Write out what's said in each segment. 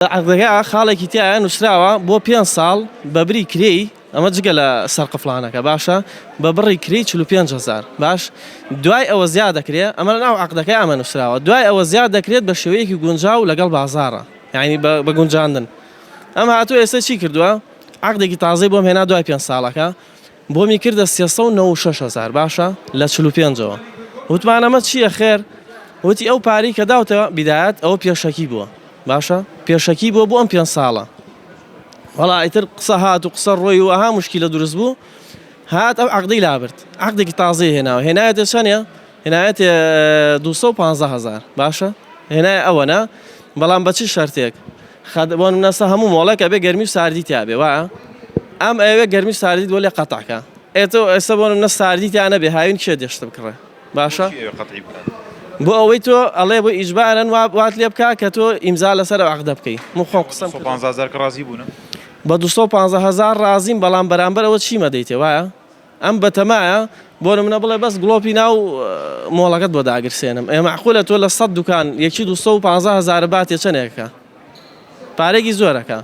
عەقدەکە خاڵێکی تیایە نووسراوە بۆ پێنج ساڵ بە بری کرێی، ئەمە جگە لە سەرقفڵانەکە باشە، بە بڕی کرێی چل و پێنج هەزار باش، دوای ئەوە زیا دەکرێ، ئەمە لەناو عەقدەکە ئەمە نووسراوە، دوای ئەوە زیا دەکرێت بە شێوەیەکی گونجاو لەگەڵ بازاڕ، یانی بە گونجاندن. ئەم هاتووە ئێستا چی کردووە، عەقدێکی تازەی بۆم هێنا دوای پێنج ساڵەکە، بۆمی کردە سێ سەد و نەوەد و شەش هەزار باشە لە چل و پێنجەوە وتمان ئەمە چییە خێر وتی ئەو پارەی کە داوتە بیدایەت ئەوە پێشەکی بووە باشە پێشەکی بووە بۆ ئەم پێنج ساڵە وەڵا ئیتر قسە هات و قسە ڕۆی و ئەها مشکیلە دروست بوو هات ئەو عەقدەی لابرد عەقدێکی تازەی هێناوە هێنایەتە چەنێ هێنایەتێ دوو سەد و پازدە هەزار باشە هێنایە ئەوەنە بەڵام بە چ شەرتێک خەد بۆ نەسە هەموو مۆڵێک ئەبێ گەرمی و ساردی تیاابێ وایە ئەم ئەوێ گەرمی و ساردی بۆ لێ قەتعکە ئێتە ئێستا بۆ نە ساردی تیانە بێ هاوین کێ دێشت بکڕێ باشە بۆ ئەوەی تۆ ئەڵێ بۆ ئیجبارن وات لێ بکە کە تۆ ئیمزا لەسەر عقدە بکەی مخۆ قسم ڕازی بوون بە 250 هزار ڕازیم بەڵام بەرامبەر ئەوە چیمە دەیتێ وایە ئەم بەتەمایە بۆ نمونە بڵێ بەس گڵۆپی ناو مۆڵەکەت بۆ داگرسێنم ئێ مەعقولە تۆ لە سەد دوکان یەکی دوو سەد و پانزە هەزارە باتێ چەنێکەکە پارێکی زۆرەکە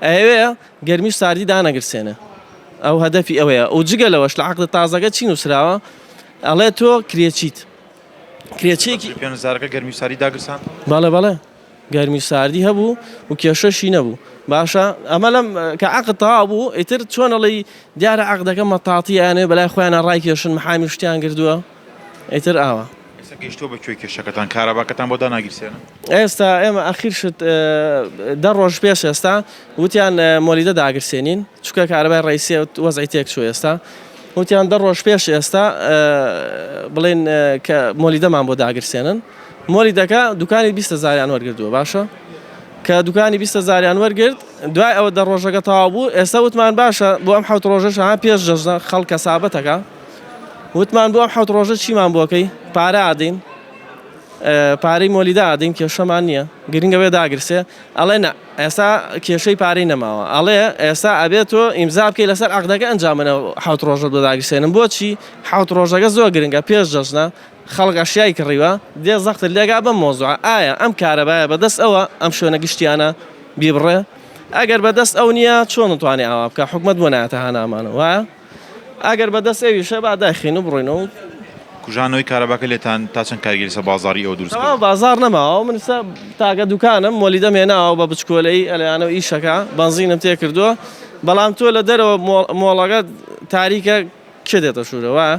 ئەیەوێ گەرمی و ساردی دانەگرسێنێ ئەو هەدەفی ئەوەیە ئەو جگە لەوەش لە عقد تازەکە چی نووسراوە ئەڵێ تۆ کرێچیت کرێچێکی پێنجزارەکە گەرمی ساری داگرسان بەڵێ بەڵێ گەرمی و ساردی هەبوو و کێشەشی نەبوو باشە ئەمە لەم کە عقد تەواو بوو ئیتر چۆن ئەڵی دیارە عقدەکە مەتاتیە یانێ بەلای خۆیانە ڕایکێشن محامی شتیان گردووە ئیتر ئاوە ئێستا گەیشتووە بە کوێی کێشەکەتان کاراباکەتان بۆ داناگیرسێنن ئێستا ئێمە ئەخیر شت دە ڕۆژ پێش ئێستا وتیان مۆلیدە داگرسێنین چکە کارەبای ڕیسێت وەزعی تێک چوو ئێستا وتیان دە ڕۆژ پێش ئێستا بڵێن کە مۆلیدەمان بۆ داگرسێنن مۆلیدەکە دوکانی بیستە زاریان وەرگردووە باشە کە دوکانی بیستە زاریان وەرگرت دوای ئەوە دە ڕۆژەکە تاوا بوو ئێستا وتمان باشە بۆ ئەم حوت ڕۆژەش ها پێش جەژنە خەڵکە سابەتەکە وتمان بۆ ئەم حوت ڕۆژە چیمان بۆکەی پارە ئادەین پارەی مۆلیدا ئادەین کێشەمان نییە گرنگەوێ داگرسێ ئەڵێ نا ئێستا کێشەی پارەی نەماوە ئەڵێ ئێستا ئەبێ تۆ ئیمزا بکەی لەسەر عەقدەکە ئەنجا من حەوت ڕۆژە بۆ داگیرسێنم بۆچی حەوت ڕۆژەکە زۆر گرنگە پێش جەژنە خەڵک ئەشیای کڕیوە دێ زەختت لێگا بەم مەوزوعە ئایا ئەم کارەبایە بەدەست ئەوە ئەم شوێنە گشتیانە بیبڕێ ئەگەر بەدەست ئەو نییە چۆن توانێ ئاوا بکا حکومەت بۆ نایەتە هانامانەوە وایە؟ ئەگەر بە دەست ئێویشە با دایخەین و بڕۆینەوە و. کوژانەوەی کارەباکە لێتان تا چەند کارگێری سە بازاڕی ئێوە دروست کردووە؟ تەواو بازاڕ نەماوە من سە تاکە دوکانم مۆلیدەم هێناوە بە بچکۆلەیی ئەلەیانە و ئیشەکە بەنزینم تێ کردووە بەڵام تۆ لە دەرەوە مۆ مۆڵەکە تاریکە کێ دێتە ژوورە وایە؟